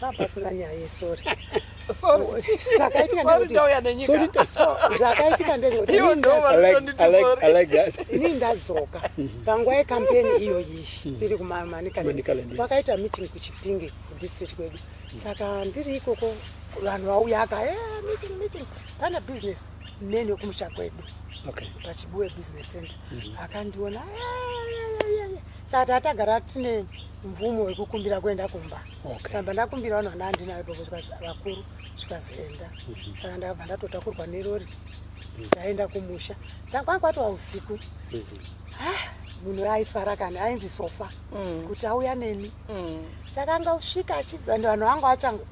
Hapapasina nyaya yesori. zvakaitika ndezvekutinini ndadzoka panguva yekampeni iyoyi tiri kumamanikaland kwakaita meeting kuchipinge kudistrict kwedu saka ndiri ikoko vanhu vauya aka eh, meeting meeting pana business neni wekumusha kwedu pachibuwe business center mm-hmm. akandiona eh, eh, saka tatagara tine mvumo yekukumbira kuenda kumba okay. saka ndakumbira vanhu vana andinayo ipapo vakuru zvikazoenda mm -hmm. saka ndakabva ndatotakurwa nerori mhm. ndaenda kumusha saka kwanga kwatova usiku mm -hmm. ah, munhu aifara kana ainzi sofa mm. kuti auya neni mm. saka anga usvika and vanhu vanga vachangu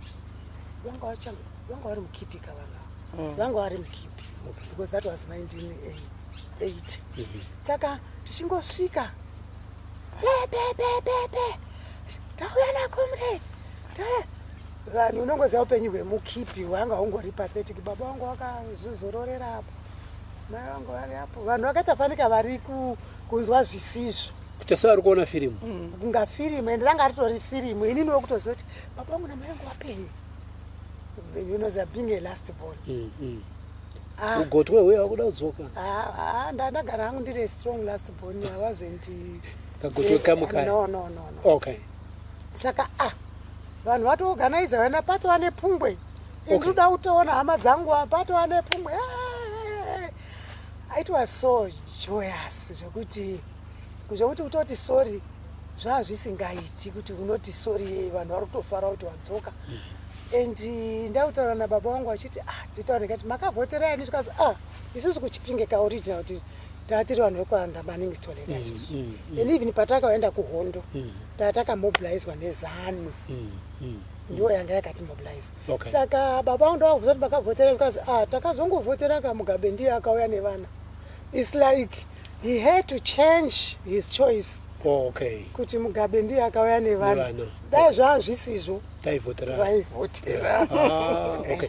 vanga vachangu vanga vari mukipi ka vanhu ava mm. vanga vari mukipi okay. because that was 1988 mm -hmm. saka tichingosvika tauya nakomre vanhu unongoziva upenyu hwemukipi wanga ungori pathetic baba wangu wakazvizororera apo mai vangu vari apo vanhu vakasafanika vari kunzwa zvisizvo kutasa vari kuona firimu mm, kunga firimu ende ranga ritori firimu inini wekutoziva kuti baba vangu namai vangu vapenyu unoziva being a last born mm, mm. Ah. ugotwe huya wakuda kudzoka ah, ah, ndandagara hangu ndiri strong last born i wasn't eh, kagotwe kamwe kaya no, no, no, no. okay saka ah vanhu vatoorganiza vana patova nepungwe okay. ndinoda kutoona hama dzangu patova nepungwe it was so joyous zvekuti zvekuti kutoti sorry zvaazvisingaiti kuti unoti sori vanhu vari kutofara kuti wadzoka and eh, ndakutaura nababa wangu achiti ah nditaure kati makavhotera yani zvikazi ah isusu kuchipinge kaoriginal kuti tatiri vanhu vekuanda maningi tolela mm, isusu mm, mm. and even patakaenda kuhondo tatakamobilizwa nezanu ndiwo yanga yakatimobilize saka baba wangu ndavakubvisa kuti makavhotera zvikazi ah takazongovhotera kamugabe ndiye akauya nevana its like He had to change his choice. Oh, okay. Kuti Mugabe ndiye akauya nevanhu. Dai zvaa zvisizvo. Taivhotera. Vaivhotera. Ah, okay.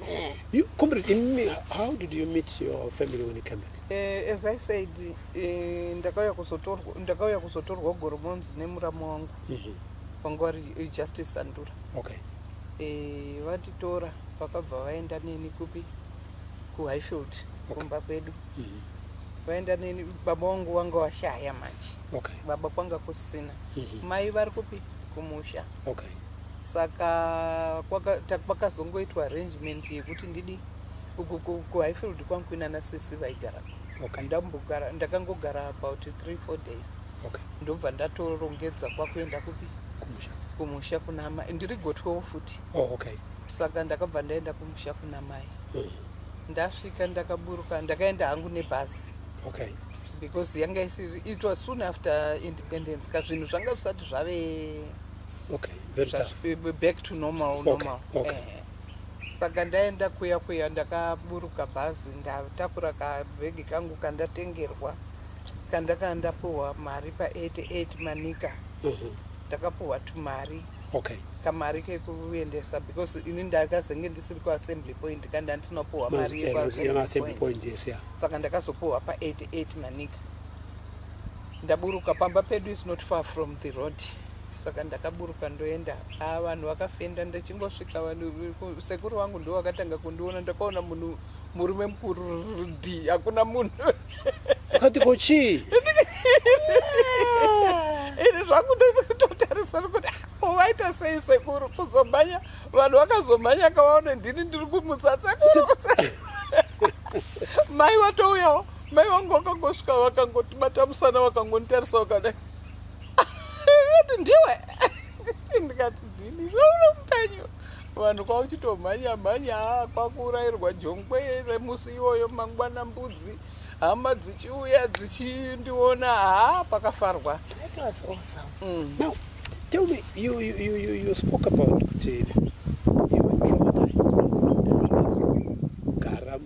You, comrade, in me, how did you meet your family when you came back? Uh, as I said, eh, ndakauya kuzotorwa ndakauya kuzotorwa Goromonzi nemuramu wangu. Mm -hmm. Pangwari eh, Justice Sandura. Okay. Eh, vatitora vakabva vaenda neni kupi? Ku Highfield okay. kumba kwedu. Okay. mm. vaenda neni baba wangu wanga washaya manje okay. baba kwanga kusina mm -hmm. mai vari kupi kumusha okay. saka kwakazongoitwa arrangement yekuti ndidi kuhighfield kwangu kuinana sisi vaigara okay. ndambogara ndakangogara about three four days okay. ndobva ndatorongedza kwakuenda kupi kumusha, kumusha kunama ndiri gotwewo futi oh, okay. saka ndakabva ndaenda kumusha kuna mai ndasvika ndakaburuka ndakaenda hangu nebhasi okay because yanga isiri it was soon after independence ka zvinhu zvanga zvisati zvave okay very tough back to normal okay. normal okay. Eh saka ndaenda kuya kuya ndakaburuka bhazi ndatakura kabhegi kangu kandatengerwa kandakaa ndapuhwa mari pa 88 manika mhm. ndakapuhwa tumari okay kamari kekuendesa because ini ndakazenge ndisiri kuassembly point ka ndandinopuhwa mari yekuassembly point yes yeah. saka ndakazopuhwa pa 88 manika ndaburuka pamba pedu is not far from the road saka ndakaburuka ndoenda a ah, vanhu vakafenda ndichingosvika vanhu sekuru wangu ndo wakatanga kundiona ndakaona munhu murume mukuru rdi hakuna munhu Kati ko chii? Ini zvangu ndototarisa kuti waita sei sekuru kuzomhanya vanhu vakazomhanya kavaone ndini ndiri kumutsatsa mai vatouyawo mai vangu vakangosvika vakangotibata musana vakangonditarisa vakadai ati ndiwe ndikati ndini zvauno mupenyu vanhu kwauchitomhanya mhanya kwakuurairwa jongwe remusi iwoyo mangwana mbudzi hama dzichiuya dzichindiona ha pakafarwa mm. Tell me, you, you, you, you, you spoke about kuti you were traumatized gara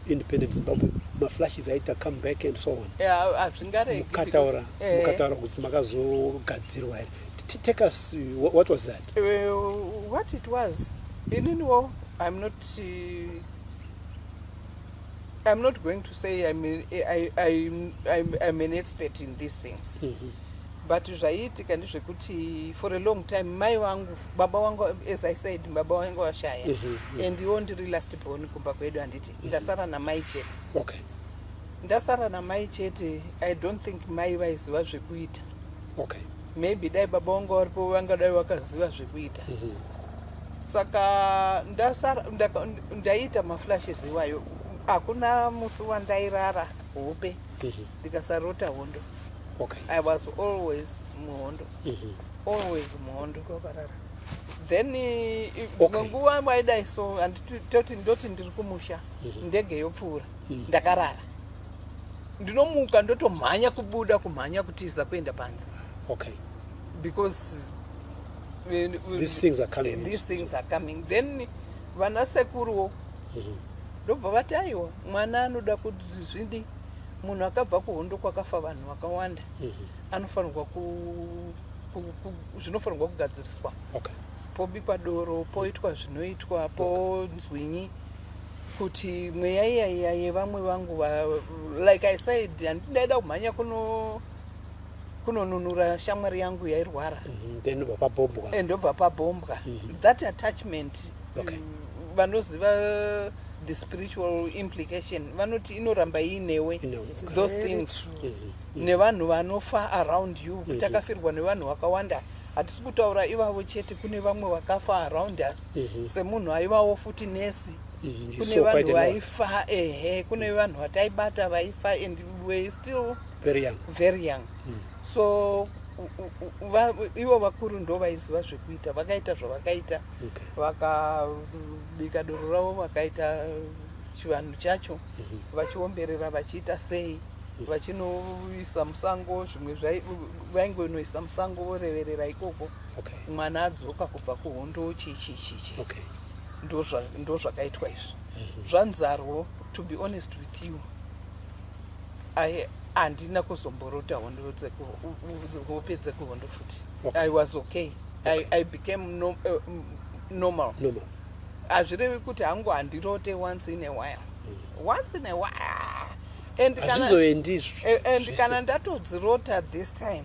independent Zimbabwe maflashes aita come back and so on. Yeah, hazvingaregi. Mukataura, eh. mukataura kuti makazogadzirwa here. take us uh, what was that uh, what it was ininiwo i'm not uh, i'm not going to say i'm, a, I, I'm, I'm, I'm an expert in these things mm -hmm. but zvaiitika ndezvekuti for a long time mai wangu baba wangu as i said baba wangu washaya mm -hmm. and iwo ndiri last born kumba kwedu handiti mm -hmm. ndasara namai chete okay ndasara namai chete i don't think mai vaiziva zvekuita okay maybe dai baba vanga varipo vangadai vakaziva zvekuita mm -hmm. saka ndasara ndaiita maflashes iwayo hakuna musi wandairara hope mhm. ndikasarota mm -hmm. hondo okay. i was always muhondo mm -hmm. always muhondo kokarara then dzimwe okay. nguva waidai so anditoti ndoti ndiri kumusha mm -hmm. ndege yopfuura ndakarara ndinomuka ndotomhanya kubuda kumhanya kutiza kuenda panze okay because when, when these things are coming these things are coming then vana sekuruwo mhm. ndobva vati aiwa mwana anoda kuti zvidi munhu akabva kuhondo kwakafa vanhu vakawanda mhm. anofanirwa ku zvinofanirwa kugadziriswa okay pobikwa doro poitwa zvinoitwa ponzwinyi okay. kuti mweya iyaiya yevamwe vangu va, like i said handindaida kumhanya kuno kunonunura shamwari yangu yairwara mhm, then ndobva pabombwa eh, ndobva pabombwa mhm. that attachment okay. Mm, vanoziva the spiritual implication vanoti inoramba iinewe those things mm -hmm. nevanhu vanofa around you mhm. takafirwa nevanhu vakawanda hatisi kutaura ivavo chete kune vamwe vakafa around us mhm. semunhu aivawo futi nesi mhm, kune vanhu vaifa ehe kune mhm. vanhu vataibata vaifa and were still very young, very young. Mm. so ivo vakuru ndo vaiziva zvekuita vakaita zvavakaita vakabika doro ravo vakaita chivanhu chacho vachiomberera vachiita sei vachinoisa musango zvimwe vaingonoisa musango voreverera ikoko okay. mwana adzoka kubva kuhondo chichichichi okay. ndozvakaitwa ndo izvi mm -hmm. zvanzarwo to be honest with you I, handina kuzomborota hondo hope dzekuhondo futi okay. i was okay, okay. I, i became no, uh, normal hazvirevi kuti hangu handirote once in a while mm. once in a while and kana ndatodzirota this time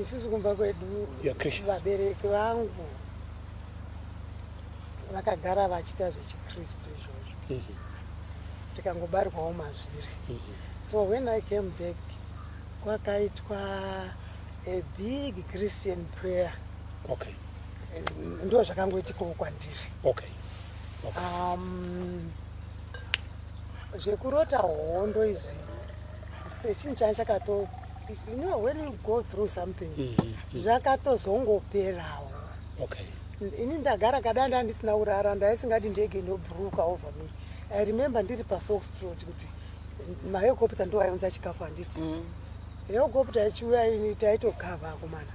Isusu kumba kwedu vabereki vangu vakagara vachiita zvechikristu izvozvo mm -hmm. tikangobarwawo mazviri mm -hmm. so when i came back kwakaitwa a big christian prayer okay. ndo zvakangoitikawo kwandiri okay. okay. um, zvekurota hondo izvi sechinhu chani chakato You know when you go through something mm -hmm. zvakatozongoperawo okay. ini ndagara kada ndandisina kurara ndaisingadi ndege ndobruka over me i remember ndiri pafoxtrot kuti mahelicopter ndo aionza chikafu handiti mm. helicopter ichiuya ini taitogava akomana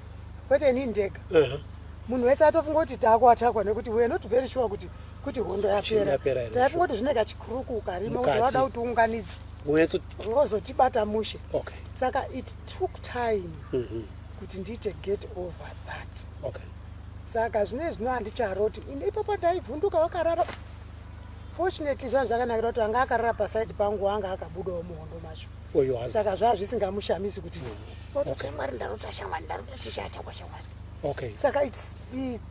kwete ini ndega uh -huh. munhu wese atofunga kuti taakwatakwa nekuti weare not very sure kuti kuti hondo yapera taikungoti zvine kachikuruku karimo kuti wada kuti unganidza wozotibata mushe okay. saka it took time mm -hmm. kuti ndiite get over that okay. saka zvine zvino handicharoti ipapo ndaivhunduka wakarara fortunately zvanhu zvakanakira kuti anga akarara paside pangu anga akabudawo muhondo macho saka zvaa zvisingamushamisi kuti mm -hmm. otokamwari okay. ndarota shamwari ndarota tichaata kwashamwari okay. saka it's, it's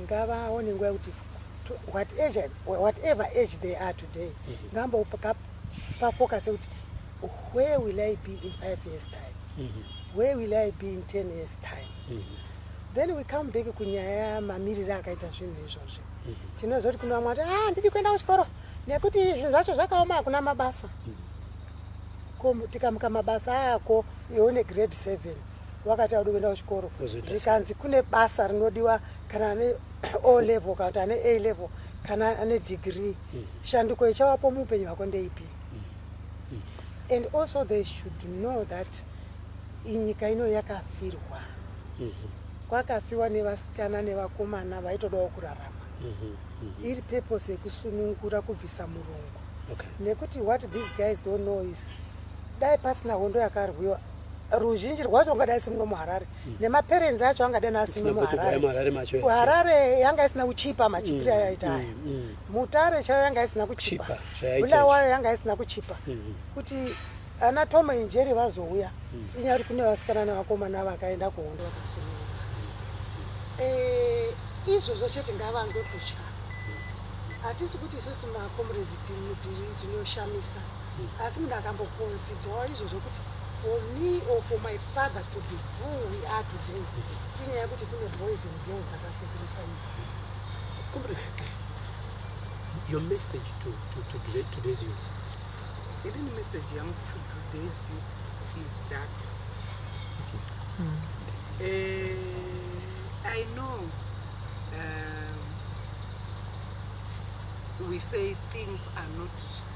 ngavaone nguva yekuti whatever age they are today mhm. ngambopafocus yekuti where will i be in five years time mhm. where will i be in ten years time mhm. then we come back kunyaya mamiriri akaita zvinhu izvozvi tinoziva kuti kune vamwe vati ah ndidi kuenda kuchikoro nekuti zvinhu zvacho zvakaoma hakuna mabasa ko tikamuka mabasa ako iwe une grade seven wakati audi kuenda kuchikoro zvikanzi kune basa rinodiwa kana ane o level kana kuti ane a level kana ane degree mm. shanduko ichawapo muupenyu hwako ndeipi mm. mm. and also they should know that inyika ino yakafirwa mm-hmm. kwakafiwa nevasikana nevakomana vaitodawo kurarama mm-hmm. mm-hmm. iri purpose yekusunungura kubvisa murungu nekuti what these guys don't know is dai pasina hondo yakarwiwa ruzhinji rwacho ungadai isiri muno muharare mm. nemaperenzi acho angadai asiri muharare yanga isina kuchipa machipiro mm. ayaita aya mm. mutare chayo yanga isina kuchipa bula wayo yanga isina kuchipa mm-hmm. kuti ana tomo injeri vazouya inyaya kuti kune vasikana nevakomana vakaenda kuhondo vakasununga eh, izvozvo chete ngavange kutya hatisi kuti isusu makomrezi tinoshamisa Asi munhu akamboconsidhawo izvo zvokuti for me or for my father to be who we are today inyaya yekuti kune boys and girls akasacrifice your message to, to, to today, today's youth even message yangu to today's youth is that mm. uh, i know um, we say things are not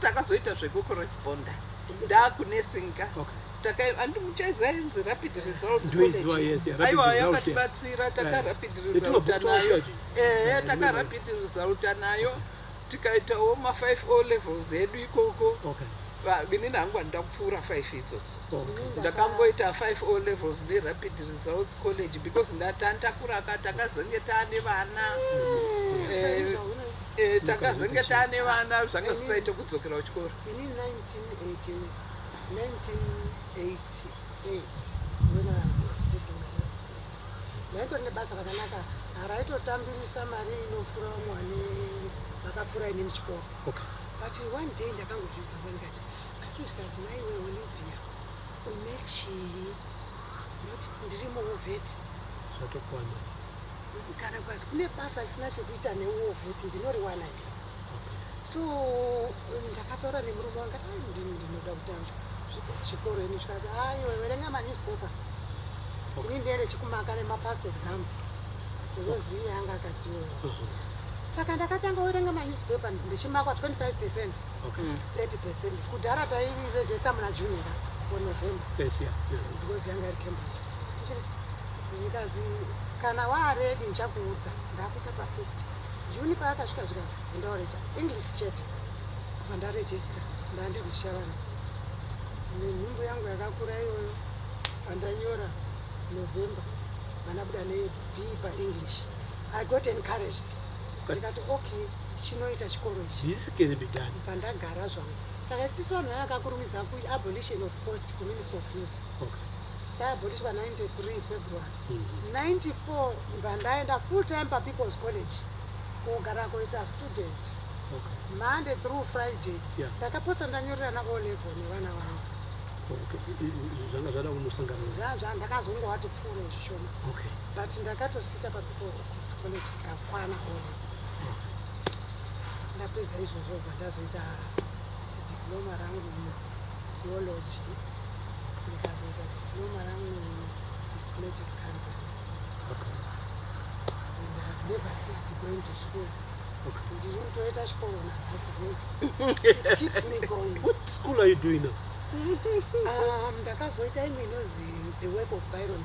takazoita zvekucorresponder ndakunesinga andimuchaizainzi rapid resultsaiwa yakatibatsira takarapid resulta nayo ehe takarapid resulta nayo tikaitawo ma5 o levels edu ikoko ini nangu andida kupfuura 5 idzodzo ndakamboita five o levels nerapid results college because ndatantakuraka takazenge taane vana eh, eh, takazenge taane vana zvanga zvisaite kudzokera kuchikoro ndaito nebasa rakanaka haraitotambirisa mari inofura vamwani vakafura inini chikoro but one day ndakangozvibvunza ndikati Asi zvikanzi maiwe Olivia une chii? Not ndirimo vheti. Zvatokwana. Kana kwazi kune basa risina chekuita newo vheti ndinoriwana here? So ndakataura nemurume wanga ndinoda kutanga chikoro ini zvikazi aiwe verenga manewspaper. Ini ndiende chikumaka nemapast exam. Unozivi yanga akatiwo. Mhm. Saka ndakatanga kuverenga manewspaper ndichimakwa 25 percent. Mm -hmm. Okay. 30% kudhara tairegister muna june ka or november Yes, yeah, yeah. because yanga iri cambridge Ndichiri- zvikazi kana waaredi ndichakuudza ndakuita pa 50 juni paakasvika zvikazi endaoreja english chete apa ndarejesta ndandindishavana nenhumbu yangu yakakura iyoyo pandanyora november vanabuda nebii paenglish i got encouraged But- ndikati okay chinoita chikoro ichi this can be done pandagara zvangu saka tisu vanhu vakakurumidza ku abolition of post ku ministry of youth okay taabolishwa 93 february mm -hmm. 94 mba ndaenda full time papeoples college kugara kuita student okay. monday through friday ndakapotsa yeah. ndanyorerana o level nevana vangu zvanga zvada kunosangana zva ndakazongowati pfuure zvishoma okay. but ndakatosita papeoples college ndakwana o level ndapedza izvozvo bva ndazoita diploma rangu mutheology ndikazoita diploma rangu systematic cancer okay. and ihave never ceased going to school ndiri kutoita chikoro nahasi bcause it keeps me going what school are you doing now um, ndakazoita imwe inozi the work of byron